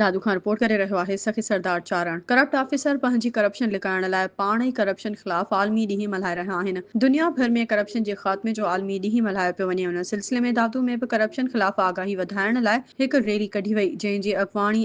Dadu Khan report ڪري رهيو آهي سخي سردار چارڻ ڪرپٽ آفيسر پنهنجي ڪرپشن لڪائڻ لاء پاڻ ئي ڪرپشن خلاف عالمي ڏينهن ملهائي رهيا آهن دنيا ڀر ۾ ڪرپشن جي خاتمي جو عالمي ڏينهن ملهايو پيو وڃي ان سلسلي ۾ دادو ۾ به ڪرپشن خلاف آگاهي وڌائڻ لاء هڪ ريلي ڪڍي وئي جنهن جي اڳواڻي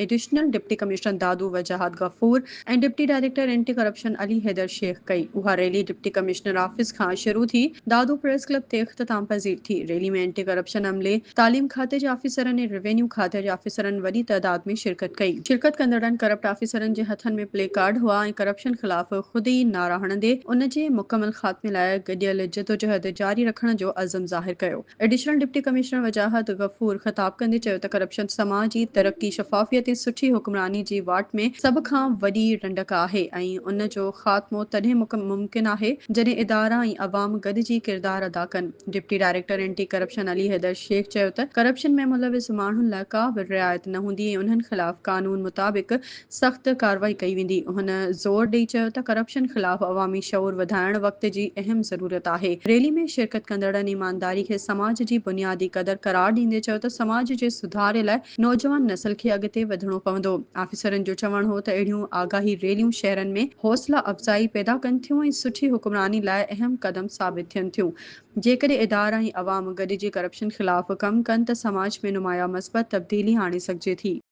additional deputy commissioner Dadu Wajahat Ghafoor ۽ deputy director anti corruption Ali Haider Shaikh ڪئي. اها ريلي ڊپٽي ڪمشنر آفيس کان شروع ٿي دادو پريس ڪلب تي اختتام پذير ٿي. ريلي ۾ اينٽي ڪرپشن عملي، تعليم کاتي جي آفيسرن ۽ روينيو کاتي جي آفيسرن وڏي تعداد ۾ شرڪت ڪئي. شرڪت ڪندڙن ڪرپٽ آفيسرن جي هٿن ۾ پلي ڪارڊ هئا ۽ ڪرپشن خلاف خود ئي نعرا هڻندي ان جي مڪمل خاتمي لاء گڏيل جدوجهد جاري رکڻ جو عزم ظاهر ڪيو. Additional deputy commissioner Wajahat Ghafoor خطاب ڪندي چيو ته ڪرپشن سماجي ترقي، شفافيت ۽ سٺي حڪمراني جي واٽ ۾ سڀ کان وڏي رنڊڪ آهي ۽ ان جو خاتمو تڏهن ممڪن آهي جڏهن ادارا ۽ عوام گڏجي ڪردار ادا ڪن. Deputy director anti corruption Ali Haider Shaikh چيو ته ڪرپشن ۾ ملوث ماڻهن لاء ڪا به رعايت نه هوندي ۽ انهن خلاف قانون مطابق سخت ڪارروائي ڪئي ويندي. هن زور ڏئي چيو ته ڪرپشن خلاف عوامي شعور وڌائڻ وقت جي اهم ضرورت آهي. ريلي ۾ شرڪت ڪندڙن ايمانداري کي سماج جي بنيادي قدر قرار ڏيندي چيو ته سماج جي سڌاري لاء نوجوان نسل کي اڳتي وڌڻو پوندو. آفيسرن جو چوڻ هو ته اهڙيون آگاهي ريليون شهرن ۾ حوصلا افزائي پيدا ڪن ٿيون ۽ سٺي حڪمراني لاء اهم قدم ثابت ٿين ٿيون. جيڪڏهن ادارا ۽ عوام گڏجي ڪرپشن خلاف ڪم ڪن ته سماج ۾ نمايان مثبت تبديلي آڻي سگهجي ٿي.